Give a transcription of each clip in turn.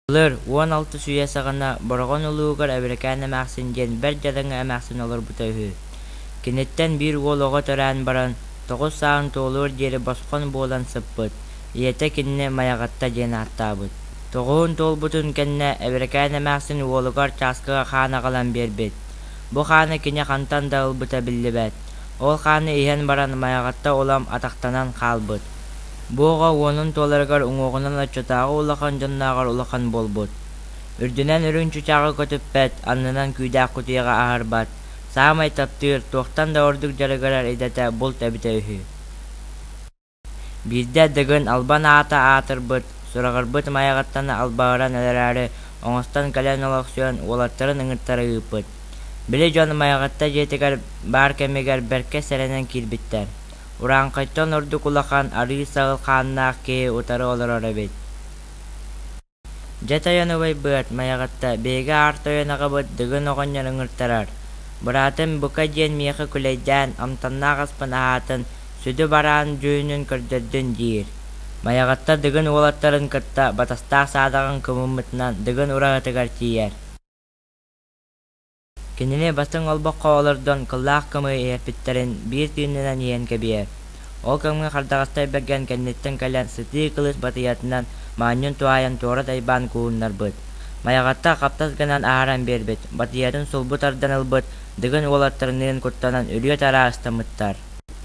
Былыр, уон алтыс үйэ саҕана, Бороҕон улуугар Эбэрэкээн эмээхсин диэн бэрт дьадаҥы эмээхсин олорбута үһү. Киниттэн биир уол оҕо төрөөн баран, тоҕус сааһын туолуор диэри босхон буолан сыппыт, ийэтэ кинини Майаҕатта диэн ааттаабыт. Тоҕуһун туолбутун кэннэ Эбэрэкээн эмээхсин уолугар чааскыга хаан аҕалан биэрбит. Бу хааны кини хантан да ылбыта биллибэт. Ол хааны иһэн баран Майаҕатта улам атахтанан хаалбыт. Бу оҕо уонун туоларыгар уҥуоҕунан оччотооҕу улахан дьоннооҕор улахан буолбут. Үрдүнэн үрүҥ чычааҕы көтүппэт, аннынан күүдээх кутуйаҕы аһарбат, саамай таптыыр, туохтан да ордук дьарыгырар идэтэ булт эбитэ үһү. Биирдэ Дыгын албан аата аатырбыт, сураҕырбыт Майаҕаттан албаҕыран эрээри, оҥостон кэлэн олохсуйан уолаттарын ыҥыртара ыыппыт. Били дьон Майаҕатта дьиэтигэр баар кэмигэр бэркэ сэрэнэн киирбиттэр. Урааҥхайтан ордук улахан арыы саҕыл хааннаах киһи утары олорор эбит Дьэ тойонубай быат Майа кытта биһиги аар тойон аҕабыт Дыгын оҕонньор ыҥыртарар, быраатым бука диэн миэхэ кулэйдээн амтаннаах аспын аһаатын, сүдү бараан дьүһүнүн көрдөрдүн диир. Майаҕатта Дыгын уолаттарын кытта Батастаах саадаҕын кымыммытынан Дыгын ураһатыгар тиийэр. Кинини бастыҥ олбоххо олордон кыллаах кымыы иһэппиттэрин биир тыынынан иһэн кэбиһэр. Ол кэмҥэ Хардаҕастай Бэргэн кэнниттэн кэлэн сытыы кылыс батыйатынан моонньун туһаайан туорат айбаан кууһуннарбыт. Майаҕатта хаптас гынан аһаран биэрбит, батыйатын сулбу тардан ылбыт дыгын уолаттарыныын куттанан үрүө-тараа ыстаммыттар.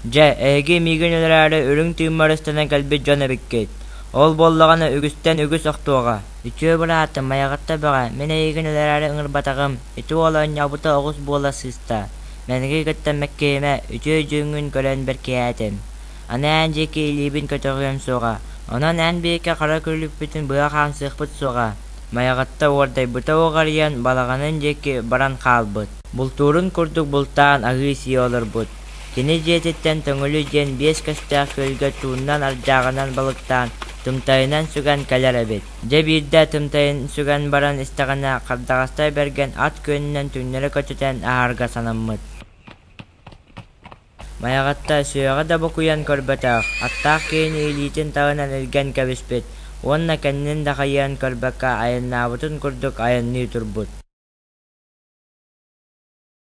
Дьэ, эһиги миигин өлөрөөрү үрүҥ тыыммар ыстанан кэлбит дьон эбиккит. Ол буоллаҕына үгүстэн үгүс охтуоҕа. Үтүө быраатым, Майаҕатта бөҕө, мин эйигин өлөрөөрү ыҥырбатаҕым, ити уол оонньообута оҕус буола сыыста, мэлигий кыттан мэккиһимэ, үтүө дьүҥҥүн көрөн бэркиһээтин. Аны эн диэки илиибин көтөҕүөм суоҕа, онон эн биэккэ хара күлүкпүтүн быһа хаамсыахпыт суоҕа. Майаҕатта уордайбыта уҕарыйан, балаҕанын диэки баран хаалбыт. Бултуурун курдук бултаан аһыы-сиэ олорбут. Кини дьиэтиттэн Төҥүлү диэн биэс көстөөх күөлгэ тууннан-ардьааҕынан балыктаан, тымтайынан сүгэн кэлэр эбит. Дьэ биирдэ тымтайын сүгэн баран истэҕинэ, Хардаҕастай Бэргэн ат күөнүнэн түҥнэри көтүтэн аһарга санаммыт. Майаҕатта сүөҕэ да бокуйан көрбөтөх, аттаах киһини илиитин таһынан илгэн кэбиспит уонна кэннин да хайыан көрбөккө айаннаабытын курдук айанныы турбут.